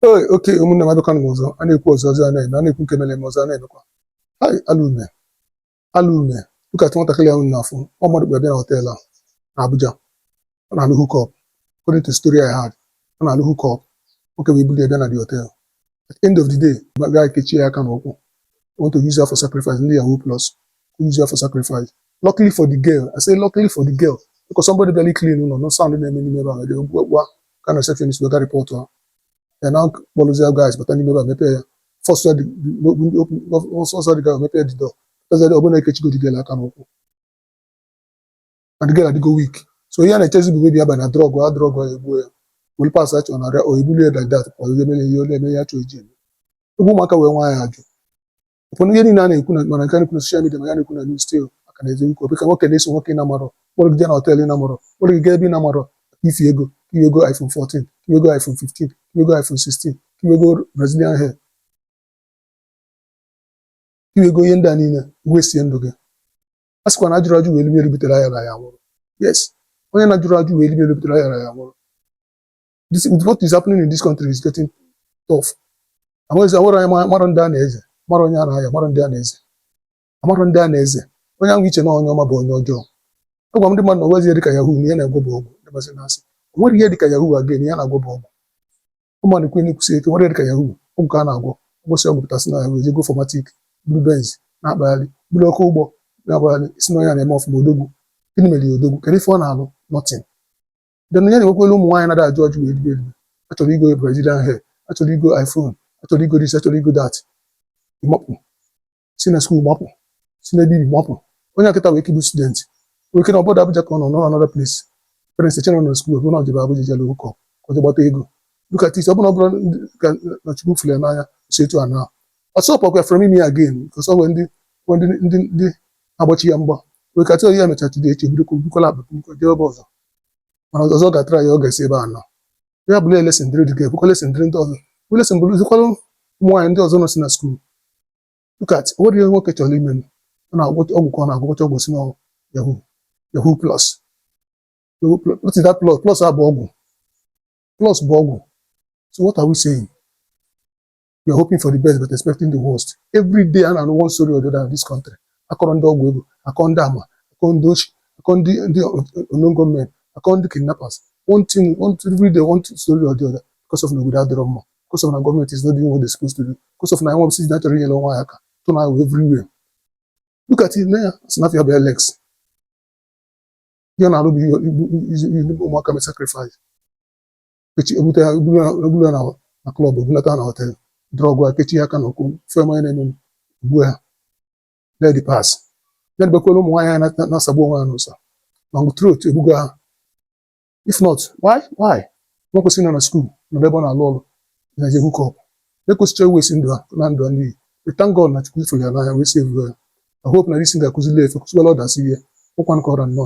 ee oke ụmụnne m abịakwana m ọzọ a na-ekwu ọzọ ọzọ a na-eme a na-ekwu nke mere m ọzọ a na-emekwa hai alụ emee alụ emee dịkatụ nwatakịrị ahụ na-afụ ọ mmadụ kpọrọ bịa na họtel a na Abuja ọ na-alụ hook-up according to story I heard ọ na-alụ hook-up nwoke wee buli ya bịa na the hotel at the end of the day ma gaa kechie ya aka na ụkwụ I want to use her for sacrifice ndị yahoo plus use her for sacrifice luckily for the girl I say luckily for the girl because somebody bịalụ clean ụlọ nụ sound na-eme n'ime ebe ahụ dị gwa ka na receptionist wee gaa rịpọtụ ahụ ya na kpọrụzie guys bata n'ime ebe a mepee ya fọsụ ya fọsụ the guy mepee the door pụtaziadị ọbụna ekechigo the girl aka na ụkwụ and the girl adịgo weak so ihe a na-echezi bụ maybe abalị na drọgụ a drọgụ ya egbuo ya were parts a chọ na arụ ya o bulie like that pụọ ihe mere ihe ole eme ya chọọ iji eme ebe ụmụaka wee nwa ya ajụ ụfọdụ ihe niile a na-ekwu ma nke a na-ekwu na social media ma ihe a na-ekwu na news still maka na eziokwu ọ bụ ka nwoke na-eso nwoke ị na-amarọ kpọrọ gị jee na họteelụ ị na-amarọ kpọrọ gị gaa ebe ị na-amarọ maka ifi ego ka i wee goo iPhone 14 ka i wee goo iPhone 15 ka i wee goo iPhone 16 ka i wee goo Brazilian hair ka i wee goo ihe ndị a niile wee sie ndụ gị a sịkwa na ajụrọ ajụ welu lie welu butere ayarọ aya nwụrụ yes onye na-ajụrọ ajụ welu lie welu butere ayarọ aya nwụrụ this with what is happening in this country is getting tough amaghịzi amara anyị ma- mara ndị a na-eze mara onye a na-aya mara ndị a na-eze amara ndị a na-eze onye ahụ i che na onye ọma bụ onye ọjọọ agwa m ndị mmadụ na o nwezi ihe dịka yahoo na ihe a na-agwọ bụ ọgwụ ndị masị na-asị o nwerọ ihe dịka yahoo again ihe a na-agwọ bụ ọgwụ ọ mụ na-ekwu na-ekwusi ike o nwerọ ihe dịka yahoo ọgwụ ka a na-agwọ a gwọsịa ọgwụ pụta sị na yahoo e jee goo 4matic buru benz na-akpagharị buru oke ụgbọ na-akpagharị i sị na onye a na-eme ọfụma odogwu gịnị mere ya odogwu kedu ife ọ na-alụ nothing then ya na-enwekwere ụmụ nwaanyị na-ada ajụ ajụ wee ribe eribe achọrọ igo Brazilian hair achọrọ igo iPhone achọrọ igo this achọrọ igo that ị mapụ si na skuul mapụ si na ebe i bi mapụ onye a kịta nwee ike bụ student nwee ike na obodo Abuja ka ọ nọ nọ another place parents echere na skuul bụ na o jebe Abuja jere hook-up ka o jee gbata ego look at it ọ bụrụ ọ bụrụ na Chukwu fụrụ ya n'anya si etu a na ọsọ ọkwa from ime again because o nwere ndị ndị ndị ndị agba chi ya mgba nwee ike a tọọ ya mechaa today echi bido kwukwala akpa jebe ọzọ mana ọzọ ga-atara ya ọ ga-esi ebe a nọ ya bụrụ lesson dịrị the girl bụkwa lesson dịrị ndị ọzọ bụ lesson bụrụzikwara ụmụ nwaanyị ndị ọzọ nọsị na skuul look at o nwere ihe nwoke chọrọ ime ọ na-agwọ ọgwụ ka ọ na-agwọcha ọgwụ sị na yahoo yahoo plus what is that plus plus a bụ ọgwụ plus bụ ọgwụ so what are we saying we are hoping for the best but expecting the worst every day a na-anụ one story or the other in this country akọrọ ndị ọgwụ ego akọ ndị ama akọ ndị oshi akọ ndị ndị unknown gunmen akọ ndị kidnappers one thing one thing, every day one thing, story or the other because of na obodo adịrọ mma because of na gọọmenti is not doing what they supposed to do because of na nwa bụsị na chọrọ inyere onwe ya aka tụ na ahụ everywhere look at it onye a sị na afa ya bụ Alex ihe ọ na-arụ bụ ihe- igbu- igbu- igbu ụmụaka mee sacrifice kechi ebute ha ebulu ha ebulu ha na na klọb ebulata ha na họtel drọgụ ha kechi ha aka na ụkwụ fee mmanya na-eme ugbu a ledi pas ya dịbekwala ụmụ nwaanyị ha na- na-asagbu onwe ha n'ụsa long throat egbugo ha if not why why nwa kwesịrị nọ na skuul nọ n'ebe ọ na-alụ ọrụ na-eje hook-up ekwesịcha i waste ndụ ha na ndụ ha n'iyi thank God na Chukwu fụrụ ya n'anya wee save ya I hope na this thing ga-akụzili ya ife kụziwala others ihe ụkwa nkọrọ nnọọ